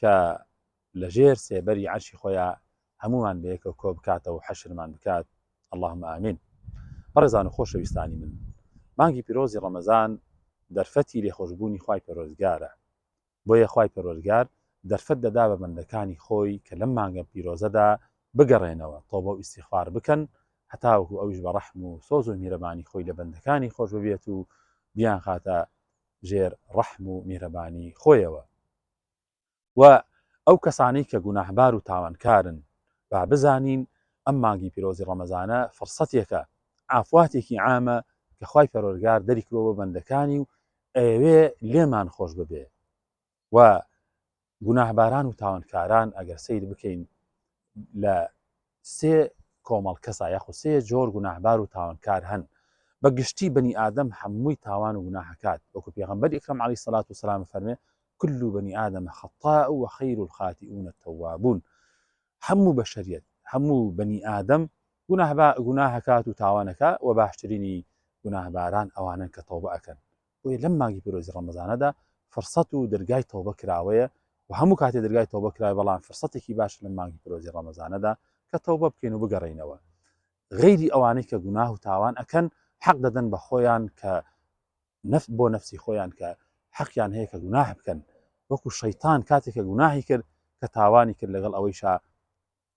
کە لە ژێر سێبەری عەرشی خۆیا هەموومان بەیەکەوە کۆ بکاتەوە و حەشرمان بکات اللهم آمین بەڕێزان و خۆشەویستانی من مانگی پیرۆزی ڕەمەزان دەرفەتی لێخۆشبوونی خوای پەرۆزگارە بۆیە خوای پەرۆزگار دەرفەت دەدا بە بەندەکانی خۆی کە لەم مانگە پیرۆزەدا بگەڕێنەوە تۆبە و ئیسیخوار بکەن هەتاوەکو ئەویش بە ڕەحم و سۆز و میرەبانی خۆی لە بەندەکانی خۆش ببێت و بیان خاتە ژێر ڕەحم و میرەبانی خۆیەوە و ئەو کەسانەی کە گوناهبار و تاوانکارن با بزانین ئەم مانگی پیرۆزی ڕەمەزانە فڕسەتێکە عافواتێکی عامە کە خوای پەروەرگار دەری کردوە بۆ بەندەکانی و ئەیەوێ لێمان خۆش ببێ و گوناهباران و تاوانکاران ئەگەر سەیر بکەین لە سێ کۆمەڵ کەسا یاخو سێ جۆر گوناهبار و تاوانکار هەن بە گشتی بەنی ئادەم هەمووی تاوان و گوناهکات وەکو پێغمبەر ئیکرم علی سەلات و سلام فەرمێ كل بني آدم خطاء وخير الخاطئون التوابون هەموو بەشریت هەموو بەنی ئادەم گوناهکات و تاوانەکە و باشترینی گوناهباران ئەوانن کە تەوبە ئەکەن بۆیە لەم مانگی پیرۆزی ڕەمەزانەدا فرسەت و دەرگای تەوبە کراوەیە و هەموو کاتێ دەرگای تەوبە کرای بەڵام فرسەتێکی باش لە مانگی پیرۆزی ڕەمەزانەدا کە تەوبە بکەین و بگەڕینەوە غیری ئەوانەی کە گوناه و تاوان ئەکەن حەق دەدەن بە خۆیان کە نفت بۆ نفسی خۆیان کە حەقیان هەیە کە گوناه بکەن وەکو شەیتان کاتێک کە گوناهی کرد کە تاوانی کرد لەگەڵ ئەوەیشا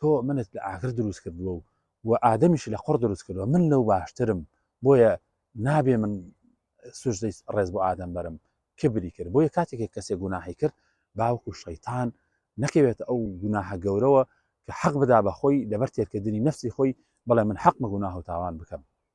تۆ منت لە ئاگر دروست کردووە و و ئادەمیش لە قڕ دروست کردووە من لەو باشترم بۆیە نابێ من سوژدەی ڕێز بۆ ئادەم بەرم کبری کرد بۆیە کاتێک کەسێک گوناهی کرد باوکو شەیتان نەکەوێت ئەو گوناهە گەورەوە کە حەق بدا بەخۆی لەبەر تێرکردنی نفسی خۆی بڵێ من حەق مەگوناه و تاوان بکەم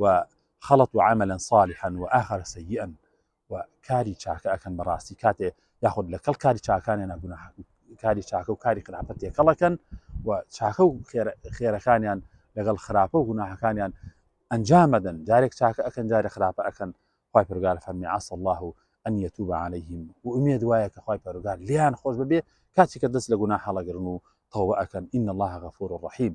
و خەڵەتو عەمەلەن ساڵیحەن و ئاخەرە سەییئەن و کاری چاکە ئەکەن بەڕاستی کاتێ یاخود لەکەڵ کاری چاکانیانە گوناح کاری چاکە و کاری خراپە تێکەڵەکەن و چاکە و خێرەکانیان لەگەڵ خراپە و گوناحەکانیان ئەنجامەدەن جارێک چاکە ئەکەن جارە خراپە ئەکەن خی پرگار فەرمی عس الله و ئەن یەتوب عليهلەیهیم و ئومێد وایە کە خی پەرگار لیان خۆش ببێ کاچی کە دەست لە گونا هەڵەگرن و تەوە ئەکەن ئین الله غەفور و ڕحیم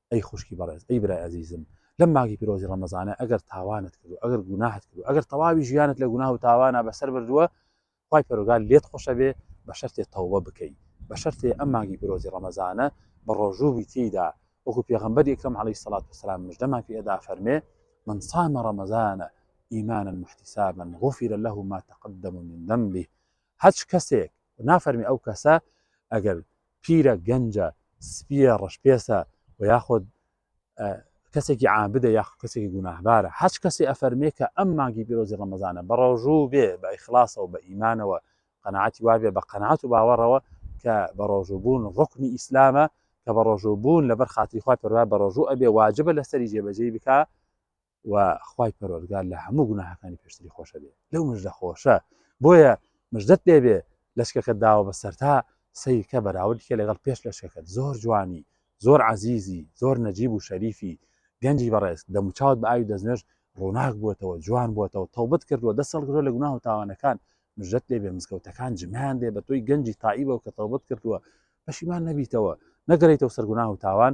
ئەی خوشکی بەڕێز ئەی برای ئەزیزم لەم مانگی پیرۆزی ڕەمەزانە ئەگەر تاوانت کردو ئەگەر گوناحت کردو ئەگەر تەواوی ژیانت لە گوناه و تاوانە بەسەر بردووە خی پەرۆگال لێت خۆشە بێ بە شەرتێ تەوبە بکەی بە شەرتێ ئەم مانگی پیرۆزی ڕەمەزانە بە ڕۆژوو بیتیدا وەکو پێغمبەر یەکەم علی سەڵات وسلام مژدەمان پێ ئەدا فەرمێ من صام ڕەمەزانە ئیمانە محتیسابن غفر له ما تقدم من ذنبه هەچ کەسێک نافەرمی ئەو کەسە ئەگەر پیرە، گەنجە، سپییە، ڕەشپێستە و یاخود کەسێکی عابدە یاخ کەسێکی گوناهبارە هەچ کەسێ ئەفەرمێ کە ئەم مانگی پیرۆزی ڕەمەزانە بە ڕۆژوو بێ بە ئیخلاصەوە بە ئیمانەوە قەنەعاتی وابێ بە قەنەعات و باوەڕەوە کە بە ڕۆژووبوون ڕکمی ئیسلامە کە بە ڕۆژووبوون لەبەر خاتری خوا پەروا بە ڕۆژوو ئەبێ واجبە لەسەری جێبەجێی بکە و خوای پەروەردگار لە هەموو گوناهەکانی پێشتری خۆشە بێ لەو مژدە خۆشە بۆیە مژدەت لێ بێ لەشکەکە داوە بە سەرتا سیرکە بەراوردکە لەگەڵ پێش لەشکەکەت زۆر جوانی زۆر عزیزی زۆر نەجیب و شەریفی گەنجی بەڕێز دەموچاوت بە ئاوی دەستنوێژ ڕووناک بووەتەوە جوان بووەتەوە تەوبەت کردووە دەست هەڵگرۆ لە گوناه و تاوانەکان مژدەت لێ بێ مزگەوتەکان جمیان دێ بە تۆی گەنجی تائیبەوە کە تەوبەت کردووە پەشیمان نەبیتەوە نەگەریتەوە سەرگوناه و تاوان